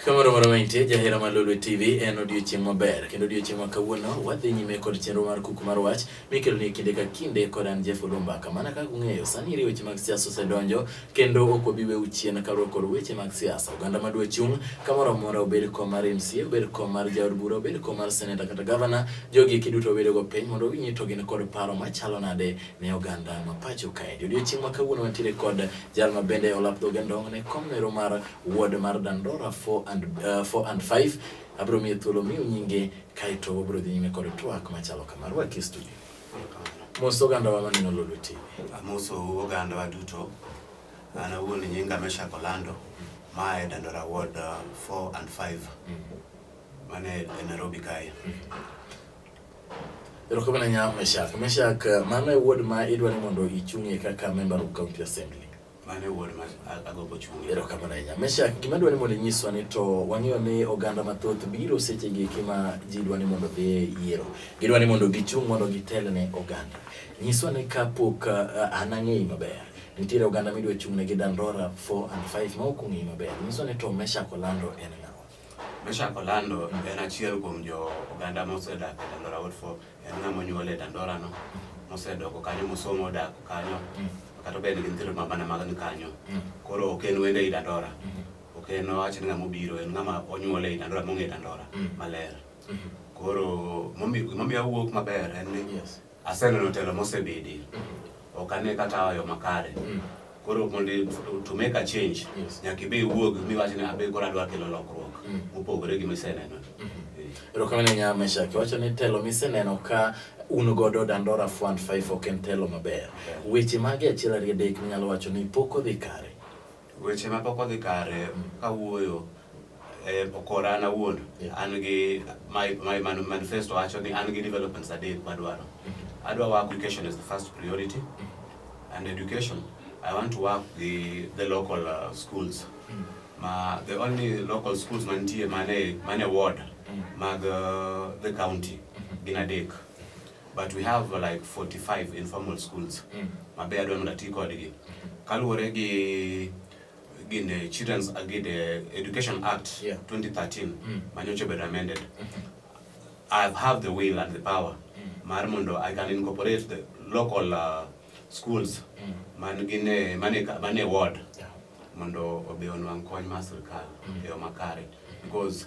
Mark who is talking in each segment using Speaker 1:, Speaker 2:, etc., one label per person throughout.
Speaker 1: Kamoro moro mantie jahera mar Lolwe TV en odiochieng' maber kendo odiochieng' ma kawuono wadhi nyime kod chenro mar kuku mar wach mikelo ni kinde ka kinde kod an Jeff Olumba. Kamana kaka ung'eyo sani iri weche mag siasa osedonjo kendo ok obi weu chien kaluwore kod weche mag siasa. Oganda ma dwa chung' kamoro amora, obed kom mar MCA, obed kom mar jaod bura, obed kom mar seneta kata gavana, jogi eki duto obedogo piny mondo winyi to gin kod paro machalo nade ne oganda ma pacho kae. Odiochieng' ma kawuono wantiere kod jal ma bende olap dhoge ndong' ne kom nero mar ward mar Dandora 4 and, uh, 4 and 5 abiro miye thuolo miu nyinge kaeto wabiro dhi nyime kod twak machalo kama. Rwaki studio. Mos ogandawa maneno Lolwe TV. Amoso ogandawa duto. An awuon nyinga Meshak Olando ma e Dandora Ward 4 uh, and 5 mane e Nairobi kae. Erokamano nya Meshak. Meshak, uh, mano e ward ma idwa ni mondo ichung'ie kaka member of county assembly. Mane wuod ma agobo chungi. Ero kama na inya. Mesha gima dwani mondo nyiswa ni to wang'eyo ni oganda mathoth biro seche gi kima ji dwani mondo dhi yiero. Gidwani mondo gichung' mondo gitel ne oganda. Nyiswa ni kapok uh, an ang'eyi maber. Nitiere oganda midwa chung'ne gi Dandora 4 and 5 ma ok ong'eyi maber. Nyiswa ni to Mesha kolando en ng'a? Meshack Orlando en achiel kuom jo oganda mosedak e Dandora Ward 4 en ng'ama onyuol e Dandora no mosedoko kanyo mosomo odak kanyo kata obed gi nyithindo mabana mag ni kanyo koro ok en wende i Dandora ok en owacho ni ng'ama obiro en ng'ama onyuol e Dandora mong'e Dandora maler koro momi- gimomiyo awuok maber en ni Yes. Aseneno telo mosebedi. Mm-hmm. Ok ane kata yo makare. Mm. Koro mondo to make a change, nyaka ibe iwuog miwach ni abe koro adwa kelo lokruok mm. mopogore gi miseneno. Mm-hmm. Eh. Erokamano nya Meshack, iwacho ni telo miseneno ka un godo Dandora Fund 5 ok en telo maber. Weche mage achiel ariyo adek minyalo wacho ni pok odhi kare? Weche ma pok odhi kare kawuoyo e okora an awuon an gi my, my man, manifesto wacho ni an gi developments adek madwaro mm-hmm. adwa work education as the first priority mm-hmm. and education i want to work the, the local uh, schools mm-hmm. ma the only local schools mantie mane mane ward mag uh, the county gin adek but we have like 45 informal schools mm. mabe adwa mondo ati kodgi mm-hmm. kaluwore gi gin the children's uh, gi the education act yeah. 2013 mm. manyocha obedo amended mm -hmm. i have the will and the power mm. mar mondo i can incorporate the local uh, schools mm. man gine mane mane ward yeah. mondo obe onwang kony mar sirkal mm. e yo makare mm. because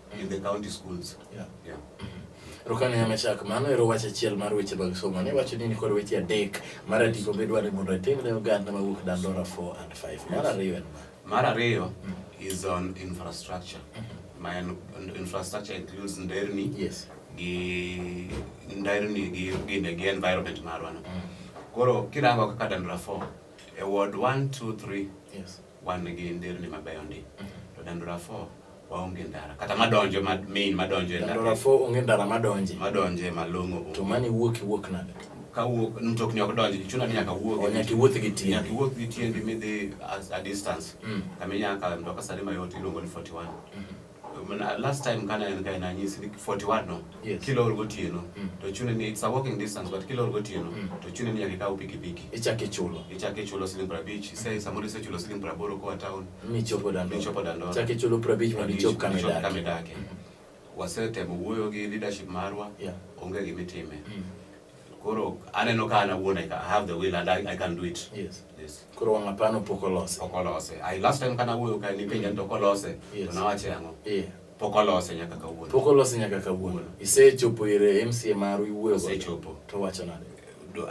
Speaker 1: in the county schools. Yeah. Yeah. Rukani ya mashaka mano ero wacha achiel mar weche mag somo ne wacho nini kod weche adek mar adiko be dware mondo atim ne oganda mawuok Dandora 4 and 5 mar ariyo en mar ariyo mm. is on infrastructure mm-hmm. my infrastructure includes nderni yes gi nderni gi gine gi environment marwa no mm. koro kirango kaka Dandora 4 e ward 1 2 3 yes wan gi nderni mabeyo ndi to dandora fo waonge ndara kata madonjo ma main madonjo e ndara Dandora fo onge ndara madonje. madonjo e malong'o To onge. mani wuok iwuok nade? ka wuok mtokni ok donji chuna ni nyaka wuog O, nyaka iwuoth gi tiendi. nyaka iwuoth gi tiendi midhi as- a distance Mm. kama inyaka mtoka sare mayot iluongo ni 41 last time kana en kaina nyisi 41 no yes. kila or gotieno mm. to chune ni it's a walking distance but kila or gotieno mm. to chune ni nyaka kaw pikipiki ichake chulo ichake chulo siling prabich mm. sai samoro ise chulo siling praboro kwa town michopo dando michopo dando ichake chulo prabich mondo ichop kama dake kama dake mm. wasetemo wuoyo gi leadership marwa yeah. onge gimitime mm. Koro aneno ka an awuon I have the will and I, I can do it. Yes. Yes. Koro wang' apano pok olose. Pok olose. I last time kana wuoyo ka nipenja ni to kolose. Yes. To nawache ang'o? Yeah. Pok olose nyaka kawuono. Pok olose nyaka kawuono. Isechopo ire MCA maru iwuoyo go. Isechopo. To wacho nade?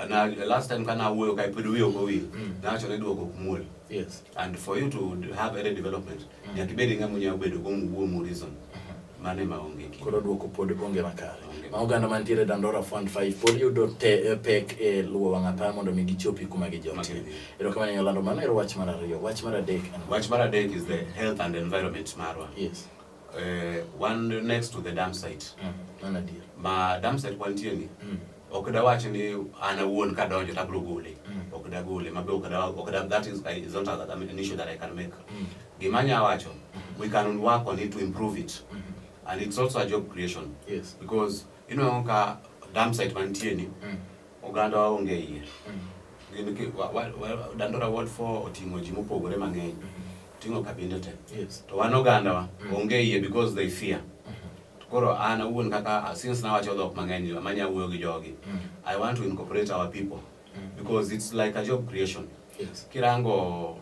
Speaker 1: Na last time kana awuoyo ka pod wiyo go wil. Mm. Nawacho ni duoko ok muol. Yes. And for you to have any development Mm. Nyaka ibed ng'ama unyalo bedo go muwuo mu reason. Mm-hmm. Mane ma onge kinde. Koro duoko pod onge makare. Ma oganda mantiere Dandora Fund 5 pod yudo te eh, pek e luwo wang' apaya mondo mi gichopi kuma gijotie. Erokamano nyalo lando mano ero wach mar ariyo. Wach mar adek. Wach mar adek is the health and environment marwa. Yes. Uh, one next to the dam site. Mm. Mana dier. Ma dam site wantie ni. Mm. ok dawach ni an awuon ka donjo tabro gole mm. ok dagole mabe ok da ok da that is, is not a, an issue that I can make mm. gima anya wacho mm. we can work on it to improve it mm -hmm. and it's also a job creation yes because you know ka dam site mantie ni mm. oganda waonge iye mm. gin wa, wa, wa, dandora ward 4 oting'o ji mopogore mang'eny mm -hmm. ting'o kabinde te yes. to wan oganda wa mm. onge iye because they fear mm. Koro an awuon kaka uh, since nawacho dhok mang'eny manya wuoyo gi jogi, mm. I want to incorporate our people mm. because it's like a job creation. Yes. Kirango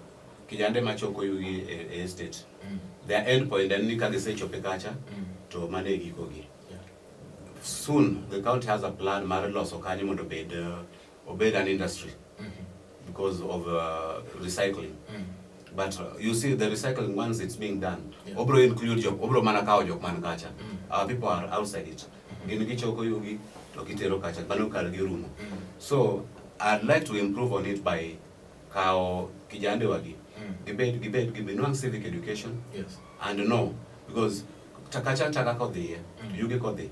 Speaker 1: kijande machoko yugi e, e estate. Mm. Their end point en ni ka gisechope kacha mm. to mane gikogi. Yeah. Soon the county has a plan mar loso kanyo mondo bed uh, obed an industry because of uh, recycling but uh, you see the recycling once it's being done Yeah. obro include jok obro mana kawo jok man kacha our people are outside it gin gichoko yugi to gitero kacha mano kar girumo so i'd like to improve on it by kawo kijande wagi gibed gibed gibinwang civic education Yes. and know because takacha taka kodhiye yugi kodhi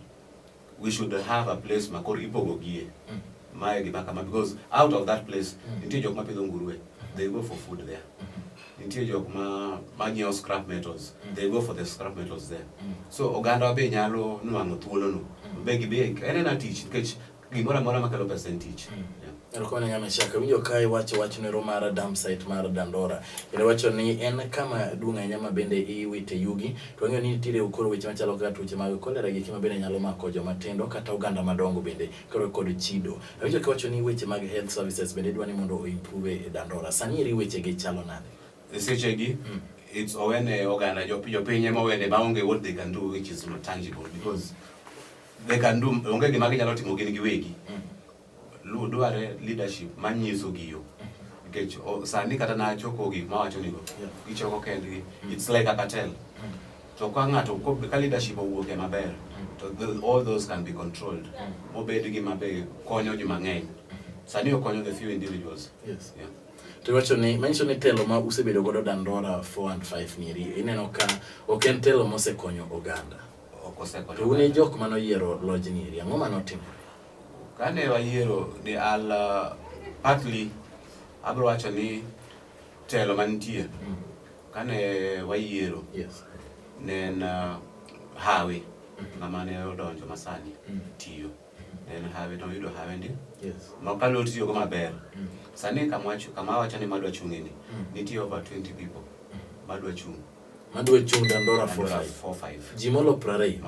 Speaker 1: we should have a place ma koro ipogogie mm. mae gima kama because out of that place mm. nitie jok ma pidho nguruwe mm-hmm. they go for food there mm-hmm. nitie jok ma manyiewo scrap metals mm. they go for the scrap metals there mm. so oganda be nyalo nwang'o thuolono mm. be gibe en en a tich nikech gimoro amora makelo pesa en tich mm. yeah. Erokamano ng'ama chako winjo ka iwacho wach nero mar dump site mar Dandora. Kendo wacho ni en kama duong' ahinya ma bende iwite yugi. To wang'eyo ni nitiere koro weche machalo kaka tuoche mag kolera gi kima bende nyalo mako joma tindo kata oganda madongo bende koro kod chido. Awinjo ka iwacho ni weche mag health services bende idwa ni mondo o improve e Dandora. Sani eri weche gi chalo nade? E seche gi mm. it's owene oganda jopiny ema owene ma onge what they can do which is not tangible because they can do onge gima ginyalo timo gin giwegi. Mm. Lu dware leadership manyiso gi yo. Nikech sani kata na choko gik ma wacho nigo. Gichoko kendgi. Mm. It's like a cartel. Mm. To ka ng'ato ka leadership owuok e maber mm. to all those can be controlled. Mobed gi mabe konyo ji mang'eny. Sani okonyo the few individuals. Yes. Yeah. To wacho ni manyiso ni telo ma usebedo godo Dandora 4 and 5 nieri ineno ka ok en telo mosekonyo oganda. Ok osekonyo. To un jok manoyiero lojni eri ang'o manotimore? Kane wayiero ni al partly abro wacho ni telo mantie mm. kane wayiero yes. ne en uh, hawi mm-hmm. ng'ama ne odonjo masani mm. tiyo mm-hmm. en hawi to yudo hawi ndi yes. mokalo tiyogo maber mm. sani kama wacho ni madwa chung'ini mm. nitie over 20 people mm. madwa chung' Madwe chung' Dandora 45. Ji molo 20.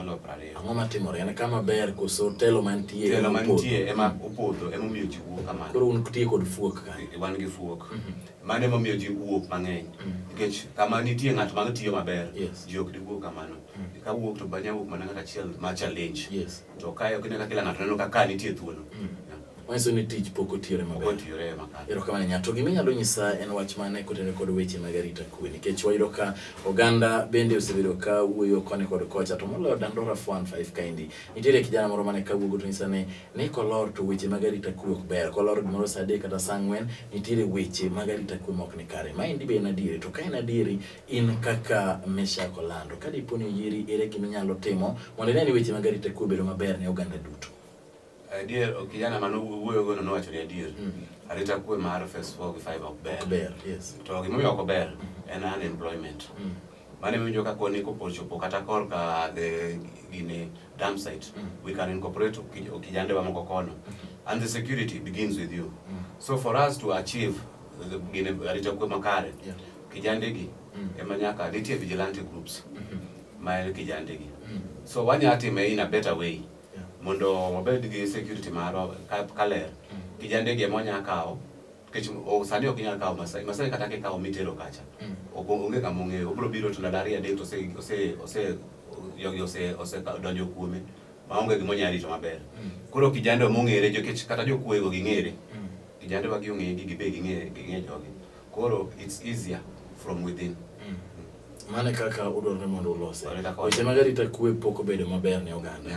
Speaker 1: Ang'o matimore? En kama ber koso telo mantie? Telo mantie ema mhm. opodho ema omiyo ji wuok kamano. Koro un tiye kod fuok ka. E, wan gi fuok. Mhm. Mano ema omiyo ji wuok mang'eny. Mhm. Nikech kama nitie ng'at ma tiyo maber, ji ok diwuok kamano. Ka wuok to banya wuok mana ng'at achiel ma challenge. To kae ok ne ka kila ng'ato neno ka ka nitie thuolo. Wanyiso ni tich pok otiyore maber. Otiyore maber. Erokamano nya to gima inyalo nyisa en wach mane kotenore kod weche mag arita kwe nikech wayudo ka oganda bende osebedo ka wuoyo koni kod kocha to moloyo Dandora 415 kaendi. Nitiere kijana moro mane kawuogo to nyisa ni ni kolor to weche mag arita kwe ok ber. Kolor gimoro saa adek kata saa ang'wen nitiere weche mag arita kwe mok ni kare. Maendi be en adieri to ka en adieri in kaka Meshack Olando ka dipo ni oyieri ere gima inyalo timo mondo ine ni weche mag arita kwe obedo maber ne oganda duto. Adier ok kijana mane wuoyo gono nowacho ni adier. Mm. Arita kwe mar phase 4 gi 5 ok ber. Ber, yes. To gima omiyo ok ber mm. en unemployment. Mm. Mane winjo ka koni kopochopo kata korka the gini dam site. Mm. We can incorporate kijande wa moko kono. Mm. And the security begins with you. Mm. So for us to achieve the gini arita kwe makare. Yeah. Kijande gi mm. ema nyaka nitie vigilante groups. Mm -hmm. Mael kijande gi. Mm. So wanya atime in a better way. mondo wabed gi security maro kaler kijande gi ema wanyalo kawo nikech sani ok inyal kawo Masai Masai kata kikawo mitero kacha mm. onge kama ong'eyo obiro biro to ndalo ariyo adek to ose ose ose jogi ose ose donjo kuome maonge gima onyalo rito maber mm. koro kijande mong'ere nikech kata jokuego ging'ere mm. kijande wa giong'egi gibe ging'e ging'e jogi Koro it's easier from within. Mm. Mane kaka udwaro ni mondo ulose. Weche mag arita kwe pok obedo maber ne oganda.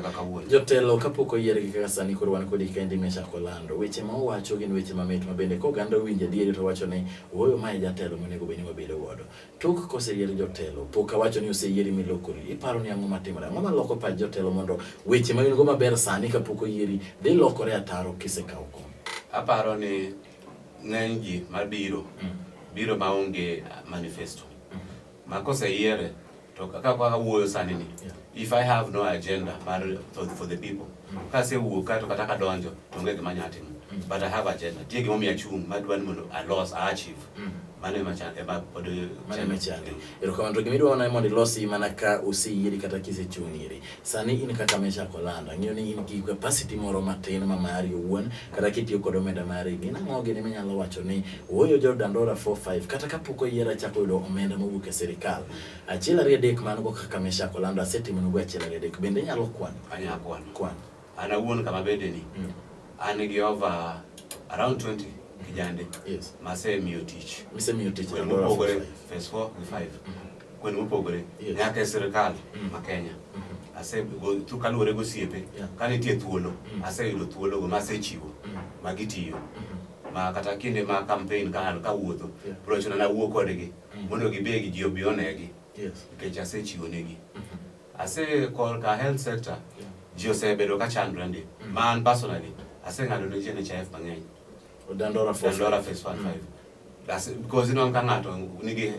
Speaker 1: Jotelo kapok oyiergi kaka sani koro wan kodi ka ndimi chako lando. Weche ma uwacho gin weche mamit ma bende ka oganda owinjo adieri to wacho ni wuoyo ma e jatelo monego bed ni wabedo godo. Tok koseyier jotelo pok awacho ni oseyieri milokori. Iparo ni ang'o matimore? Ang'o maloko pach jotelo mondo weche ma in go maber sani kapok oyieri dhi lokore ataro kisekawo kom? Aparo ni ng'eny ji mabiro mm. biro maonge uh, manifesto mm. ma koseyiere to kaka awuoyo sani ni if I have no agenda mar for, for the people mm. kasewuok kato kata kadonjo to onge gima anyalo timo but I have agenda tie gimomiyo achung' madwa ni mondo alos a achieve mano ema ema pod mano ema chande erokamano to gima idwa mana mondo ilosi mana ka useyieri kata kisechung' iri Sani in kaka Meshak Olanda, ng'eyo ni in gi capacity moro matin ma mari owuon, kata kitiyo kod omenda mari, gin ang'o gini minyalo wacho ni ooyo jo Dandora 45 kata kapok oyiera chako yudo omenda mowuok e sirikal. Achiel ariyo adek man go kaka Meshak Olanda asetimonugo achiel ariyo adek. Bende inyalo kwano? Anyalo kwano. Kwano. An awuon kama bende ni mm. an gi over around 20 kijande yes. masemiyo tich misemiyo tich kwene mopogore phase 4 and 5 kwene mopogore yes. nyaka e sirikal mm. ma Kenya mm -hmm. ase go kaluwore go siepe yeah. ka nitie thuolo mm. aseyudo thuolo go masechiwo mm. ma gitiyo mm -hmm. ma kata kinde ma campaign ka an kawuotho yeah. prochona nawuo kodgi mm. mondo gibegi ji obi onegi yes. nikech asechiwo negi mm -hmm. Ase korka health sector ji osebedo ka chandre ndi mm. ma an personally aseng'ado ne ji NHIF mang'eny Dandora phase 1 5 because ineno ka ng'ato nigi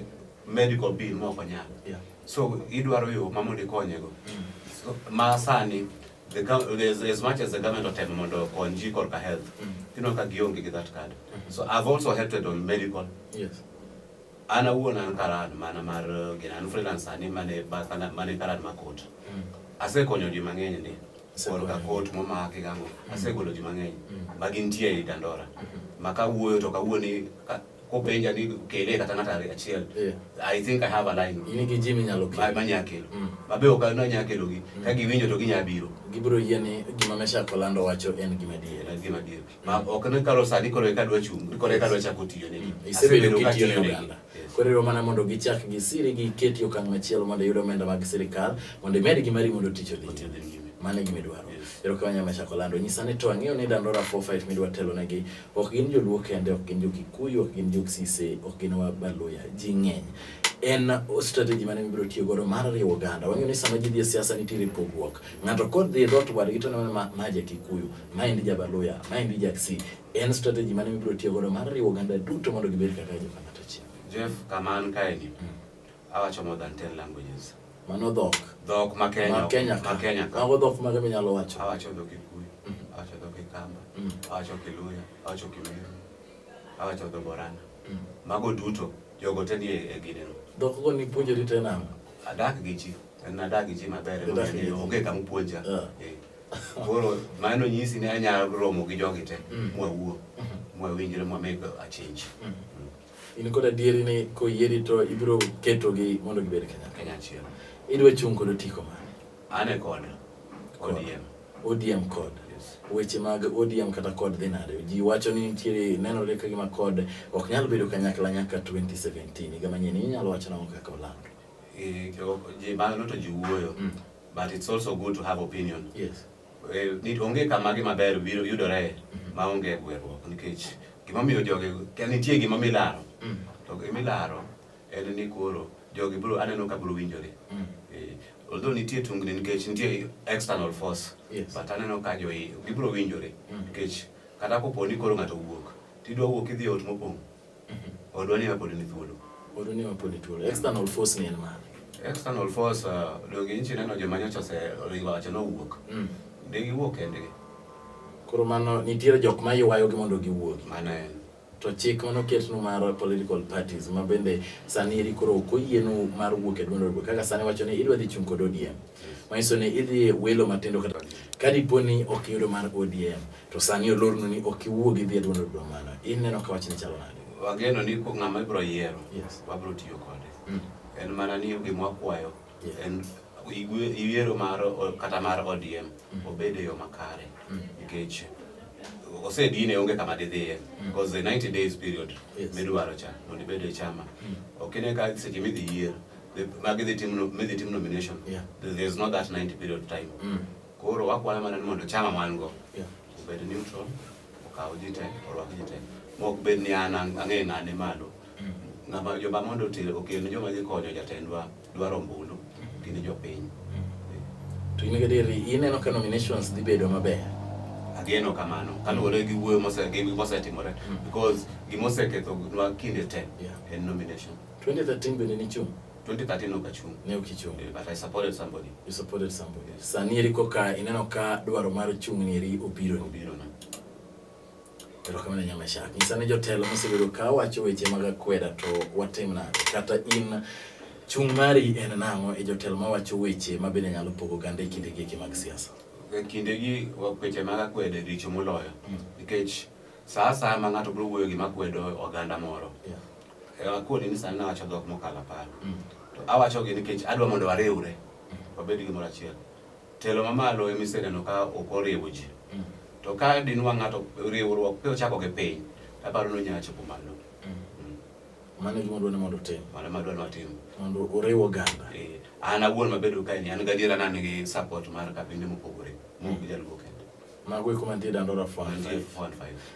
Speaker 1: medical bill ma ok onyal so idwaro yo ma mondo ikonyego mm. ma sani the as, as much as the government otem mondo okony ji korka health mm. ineno ka gionge gi that card mm-hmm. so I've also helped on medical yes An awuon an karan mana mar uh, gina an freelance ani mane mane karan makot. Mm. Asekonyo ji mang'eny ndi. Koro ka kot momaki gango. Mm. Asegolo ji mang'eny. Mm. Magi nitie ei Dandora. Mm-hmm. Maka wuoyo to kawuo ni kopenja ni kele kata ng'ato ariyo achiel yeah. i think i have a line in gi jimi nyalo kelo ma nya kelo mm. mabe ok na nya kelo gi mm. ka giwinjo to ginya biro gibiro yie ni gima mesha kolando wacho en gima dier en gima dier ma ok ne kalo sani koro eka dwa chung koro eka dwa chako tiyo negi mm. isebedo kitiyo ne oganda koro ero mana mondo gichak gisiri giketi okang' machielo mondo iyud omenda mag sirikal mondo imed gi mari mondo tich odhi mano e gima idwaro ero ka wanyama chako lando nyisa ni to ang'eyo ni dandora four fight midwa telo negi ok gin joluo kende ok gin jokikuyu ok gin joksise ok gin wabaluya ji ng'eny en strategy mane mibiro tiyo godo mar riwo oganda. Wang'eyo ni sama ji dhi e siasa nitiere pogruok. Ng'ato kodhi e dhoot wadgi to neno ma maja Kikuyu. Maendi Jabaluya, maendi Jaksi. En strategy mane mibiro tiyo godo mar riwo oganda duto mondo gibed kaka joka ng'at achiel. Jeff, kama an kaeni, mm. awacho more than 10 languages. Mano dhok. Dhok ma Kenya. Ma Kenya. Ma Kenya. Mago dhok mage minyalo wacho? Awacho dhok Kikuyu, mm. awacho dhok Kikamba, mm. awacho Kiluya, awacho Kimeru, awacho dhok Borana. Mm. Mago duto jogo te ni e gineno. Dhok go ni puonjori tena? Adak gi ji. En adak gi ji maber. Onge kama puonja. Yeah. Yeah. Koro mano nyisi ni anyalo romo gi jogi te mm. mwawuo mm-hmm. mwawinjre mwameg achenj. Mm-hmm. In kod adieri ni koyieri to ibiro ketogi mondo gibed Kenya achiel. Idwa chung' kod otiko mane? An e kod ODM. ODM kod weche mag ODM kata kod dhi nade. Ji wacho ni nitiere nenore ka gima kod ok nyal bedo kanyakla nyaka 2017 higa manyien. Inyalo wacho nang'o kaka olando? Eh, ji mano to ji wuoyo mm. but it's also good to have opinion yes. Eh, onge kama gi maber biro yudore mm-hmm. ma onge gweruok nikech gimomiyo jogi nitie gima milaro mm. to gimilaro en ni koro jogi bro aneno ka bro winjore mm. eh, although nitie tungni nikech nitie external force yes. but aneno ka joi gibro winjore mm. nikech kata kopo ni koro ng'ato wuok tidwa wuok idhi e ot mopong' Odwa ni pod ni thuolo. Odwa ni pod ni thuolo. External force ni en mane? External force uh, donge inchi neno joma nyocha ose ringo acha no wuok. Mm. Ne giwuok kendgi. Koro mano nitiere jok ma ywayogi mondo giwuogi. Mano en. To chik mano ketnu mar political parties ma bende sani eri koro ok oyienu mar wuok e duond kaka sani wacho ni idwa dhi chung' kod ODM. manyiso ni idhi welo matindo kata ka dipo ni ok iyudo mar ODM to sani olornu ni ok iwuog idhi e duond od bura mano ineno ka wachni chalo nade wageno ni ko ng'ama ibiro yiero Yes. wabiro tiyo kode Mm. en mana ni gima wakwayo Yeah. en igwe- yiero mar o- kata mar ODM obed e yo makare Mm. nikech osedine onge kama didhiye because the 90 days period Yes. midwaro cha mondo ibed e chama ok ine ka seche midhi yiero magi dhi tim midhi tim nomination yeah. there is not that 90 period time mm. koro wakwana mana ni mondo chama man go yeah. obed neutral okaw ji te orwak ji te mok bed ni an ang'e ng'ane malo mm. ng'ama joma mondo otere okel ne joma dhi konyo jatendwa dwaro ombulu mm. gin jopiny mm. to in gadieri ineno ka nominations dhi bedo maber ageno kamano kaluwore gi wuoyo mosetimore because gimoseketho nwa kinde te en nomination 2013 bende nichung'? 2013 ne ok achung'. Ne ok ichung'. Eh, but I supported somebody. You supported somebody. Yes. Sani eri koka ineno ka dwaro mar chung' ni eri obiro. Obiro na. Erokamano Nyama Shak. Nyisa ni jotelo mosebedo ka wacho weche mag akweda to watim nade? Kata in chung' mari en nang'o e jotelo mawacho weche ma bende nyalo pogo ganda e kinde gi mag siasa? E kinde gi weche mag akweda e richo moloyo. Hmm. Nikech saa saa ma ng'ato biro wuoyo gima kwedo oganda moro. Yeah. E, akuoni ni sani nawacho dhok mokalo apar mm. to awachogi nikech adwa mondo wariwre mm. wabed gimoro achiel telo mamalo ema iseneno ka ok oriwo ji mm. to ka dinwa ng'ato riwruok pe ochako gi piny aparo ni onyalo chopo malo mano gima dwani mondo otim mano ma dwani watim mondo oriw oganda eh, an awuon mabedo kaeni an gadiera ni an gi support mar kabinde mopogore mok jaluo kende Mago eko mantie Dandora Fund.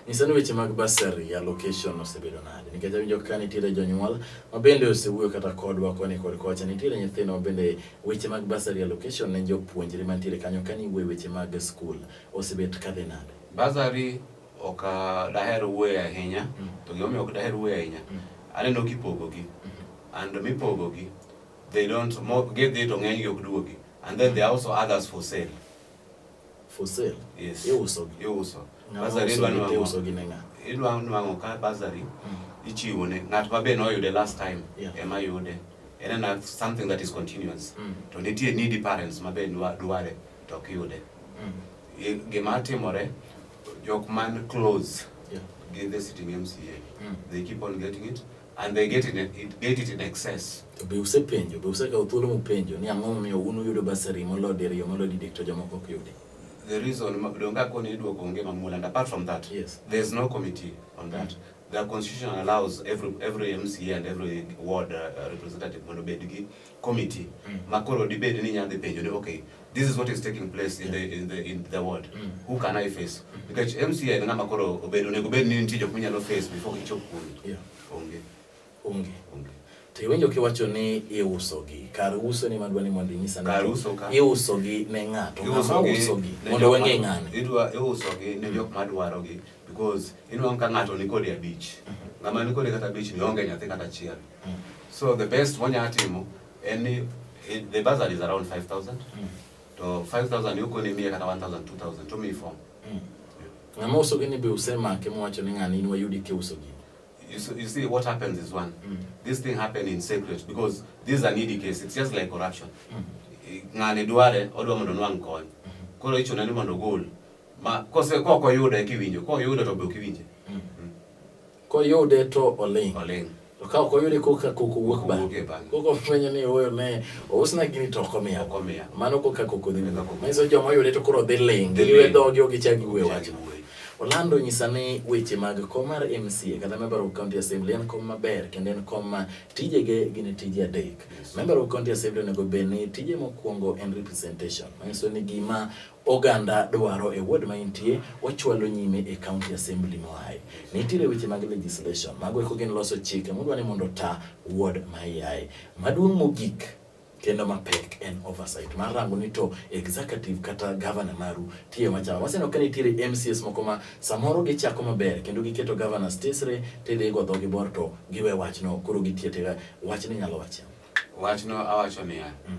Speaker 1: Nyisa ni weche mag basari ya location osebedo nade? Nikech awinjo ka nitiere jonyuol ma bende osewuoyo kata kodwa koni kod kocha, nitiere nyithindo ma bende weche mag basari ya location ne jopuonjre mantiere kanyo ka ni wuoyo weche mag skul osebet ka dhi nade? Basari ok ah, daher wuoyo ahinya, mm. to gimomiyo ok daher wuoyo ahinya, mm. aneno kipogogi, mm-hmm. and mipogogi, they don't, gidhi to ng'enygi ok duogi, and then there are also others for sale. For sale. Yes. Iuso gi. Iuso. Basari idwa iuso gi nenga. Idwa nwango ka basari mm. ichiwo ne ng'at ma be noyude last time yeah. ema yude. En na something that is continuous. Mm. To nitie needy parents ma be dware to ok yude. Mm. Gima timore jok man close yeah. gi the sitting MCA. Mm. They keep on getting it. and they get it, it, get it in excess. To be usepenjo, be usekawo thuolo mupenjo ni ang'o momiyo un uyudo basari molo diriyo molo didek to jomoko ok yudi? The reason donge akoni idwoko onge mamula and apart from that, yes. there is no committee on that. Mm. The constitution allows every every MCA and every ward uh, representative mondo bed gi committee mm. makoro dibed ni nyadhi penjo ni okay this is what is taking place in the in the in the world mm. who can i face mm. because mca en ng'ama koro obedo onego bed ni nitie jok minyalo face before ichop kuno yeah. onge onge onge to iwinjo kiwacho ni iusogi kar uso ni madwa ni mondo inyisa ni kar uso ka iusogi ne ng'ato ng'ama usogi mondo weng'e ng'ane idwa iusogi ne jok madwaro gi because inwang' ka ng'ato ni kodi abich mm-hmm. ng'ama ni kodi kata abich ni onge nyathi kata achiel mm Mm. So the best one ya timu any eh, the bazar is around 5000. Mm. To 5000 yuko ni mia kata 1000 2000 to me form. Mm. Na moso gini be usema kemo wacho ni ngani ni wayudi ke uso gini. You see, you see what happens is one. Mm. This thing happened in secret because this is an ED case. It's just like corruption. Mm. Eh, ngani duare odwa mondo nwangu kony. Mm. Koro icho nani mondo gol. Ma kose koko yudo e kiwinjo, koko yudo to be ukiwinje. Koyude to oling'. Oling'. To ka ok oyude koka koko wuok ba. Koko fwenyo ni oyo ne ousna gini to ok omiya. Ok omiya. Mano koka koko dhi. Manyiso joma oyude to koro dhi ling'. Gilwe dhogi ok gichak giwuoyo wachno. Orlando onyisa ni weche mag kom mar MCA kata member of county assembly en kom maber kendo en kom ma tijege gin tije adek. Member of county assembly onego bed ni tije mokwongo en representation. Manyiso ni gima Oganda dwaro e ward ma intie wachwalo nyime e county assembly moaye. Nitiere weche mag legislation, mago eko gin loso chike mudwa ni mondo ota ward ma iaye. Maduong' mogik kendo mapek en oversight mar rango ni to executive kata governor maru tiyo machal. Waseneno ka nitiere MCS moko ma samoro gichako maber kendo giketo governor stesre tidhi go dhogi bor to giwe wachno koro gitiyo tiga wachni nyalo wachia. Wachno awacho niya, mm.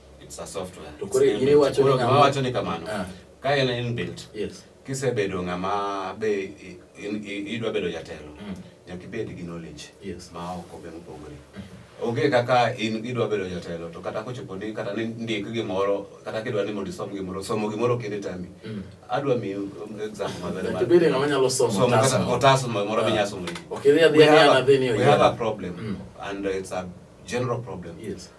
Speaker 1: it's a software to kore ire wacho ni ng'ama wacho ni kamano ah. ka en inbuilt yes kisebedo ng'ama be idwa bedo jatelo mm. nyaka ibed gi knowledge yes. ma oko be mopogore mm-hmm. onge kaka in idwa bedo jatelo to kata kochopo ni kata ni ndik gimoro kata kidwa ni mondo isom gimoro somo gimoro kinde tami mm. adwa mi exam maber to bede ng'ama nyalo somo kata otas moro minya ah. somo okay there there we have a problem mm. and it's a general problem yes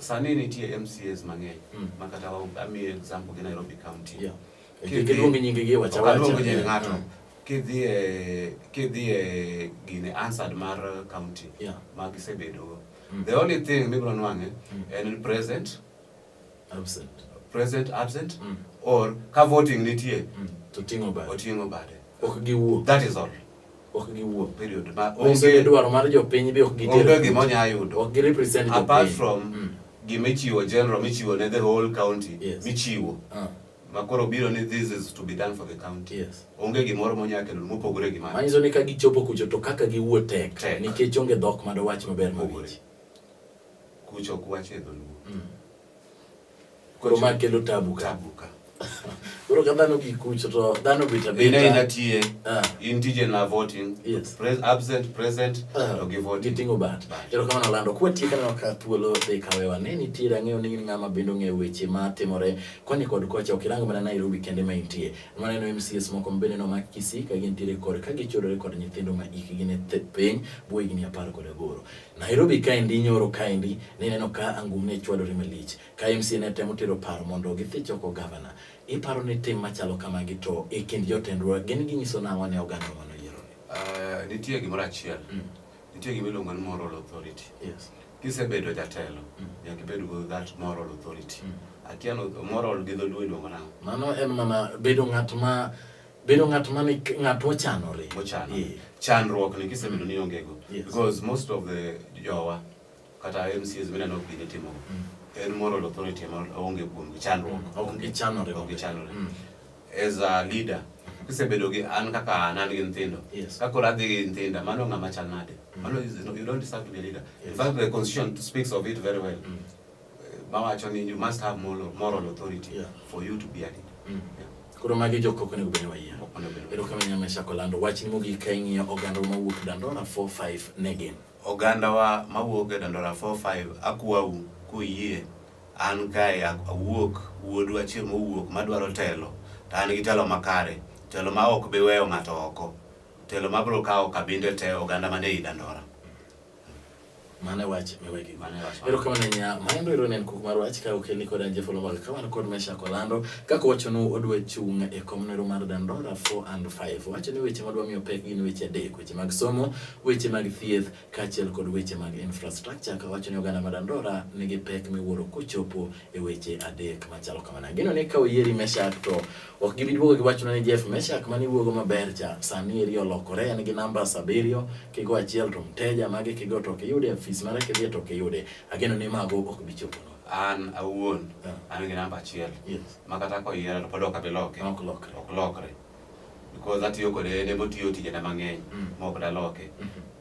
Speaker 1: Sani nitie MCAs mang'eny mm. ma kata amiye example gi Nairobi County. Yeah. Kiluongo nyingi gi wacha wacha. Kiluongo nyingi ng'ato. Mm. Kidhi e kidhi e gine answered mar county yeah. ma gisebedo. Mm. The only thing mibro nwange mm. en present absent present absent mm. or ka voting nitie mm. to tingo bade. Otingo bade. Ok giwuok. That is all. ok giwuo period ma onge dwaro mar jopiny be ok gitero onge gima onya yudo ok girepresent jopiny apart from mm. gima ichiwo general michiwo ne the whole county yes. michiwo uh. makoro biro ni this is to be done for the county yes. onge gimoro monya kendo mopogore gi mano manyiso ni ka gichopo kucho to kaka giwuo tek nikech onge dhok ma dowach maber mawinji kucho ok wach e dholuo mm. koro ma kelo tabu ka tabu ka koro ka dhano gi kucho to dhano bit ina abita ina tie Ah. in tije na voting Yes. Pres, absent present Ah, to gi voting giting'o bat Bat. erokamano lando kwatieka neno ka thuolo dhi kawewa ne nitiere ang'eyo ni in ng'ama bende ong'eyo weche ma timore koni kod kocha ok irango mana nairobi kende ma intie maneno mcs moko mabende nomaki kisii ka gintiere kod ka gichodore kod nyithindo ma ikgi ne th- piny buo higni apar kod aboro Nairobi kaendi nyoro kaendi nineno ka angum ne chwadore malich ka MCA ne temo tero paro mondo githich oko gavana. Iparo ni tim machalo kamagi to e kind jotendwa gin ginyiso nang'o ne oganda mano yieroni? Uh, nitie gimoro achiel. Mm. Nitie gima iluongo ni moral authority. Yes. Kisebedo jatelo, mm. nyaka ibed go that moral authority. Mm. Akia moral gi dholuo iluongo nang'o? Mano en mana bedo ng'at ma bedo ng'at ma ng'at mochanore mochanore yeah. chandruok ni kisebedo ni onge go yes. because most of the jowa kata MCs mineno ok gine timo mm. en moral authority ema onge kuom chandruok mm. ok gichanore ok gichanore mm. as a leader kisebedo gi an kaka an an gi nyithindo yes. kaka ora dhi gi nyithinda mano ng'ama chal nade mm. mano you don't deserve to be a leader yes. in fact the constitution speaks of it very well mm. Mawacho ni you must have moral, moral authority yeah. for you to be a leader. Mm. Yeah. Koro magi jok ok onego bedni wayie. Ero kama nyame chako lando wachni mogik ka ing'iyo oganda mawuok Dandora 45 ne gin. Oganda wa mawuok e Dandora 45 akwau kuyie an kae awuok wuodu achiel mowuok madwaro telo to an gi telo makare telo ma ok biweyo ng'ato oko telo mabiro kawo kabinde te oganda mane i Dandora. Mane wach mewegi. Mane wach. Ero kama nanya maendo ero nen kuk mar wach ka okelni kod anje folo mag ka wan kod mesha kolando kaka wacho no odwe chung e kom nero mar dandora 4 and 5. Wacho ni weche madwa miyo pek gin weche adek, weche mag somo, weche mag thieth kaachiel kod weche mag infrastructure. Ka wacho ni oganda ma dandora nigi pek miwuoro kochopo e weche adek machalo kamana. Gino ni ka oyieri mesha to Ok gibi duogo gi wachno ni Jeff Meshak mane iwuogo maber cha sani eri olokore en gi namba abiriyo kigo achiel to mteja mage kigo to ok iyude afis mare kidhi to ok iyude. Ageno ni mago ok bi chopono. An awuon Yeah. an gi namba achiel Yes. ma kata koyiera to pod ok abi loke. Ok lokre. Ok lokre. Because atiyo kode en ema otiyo tijena mang'eny Mm. ma ok daloke. Mhm.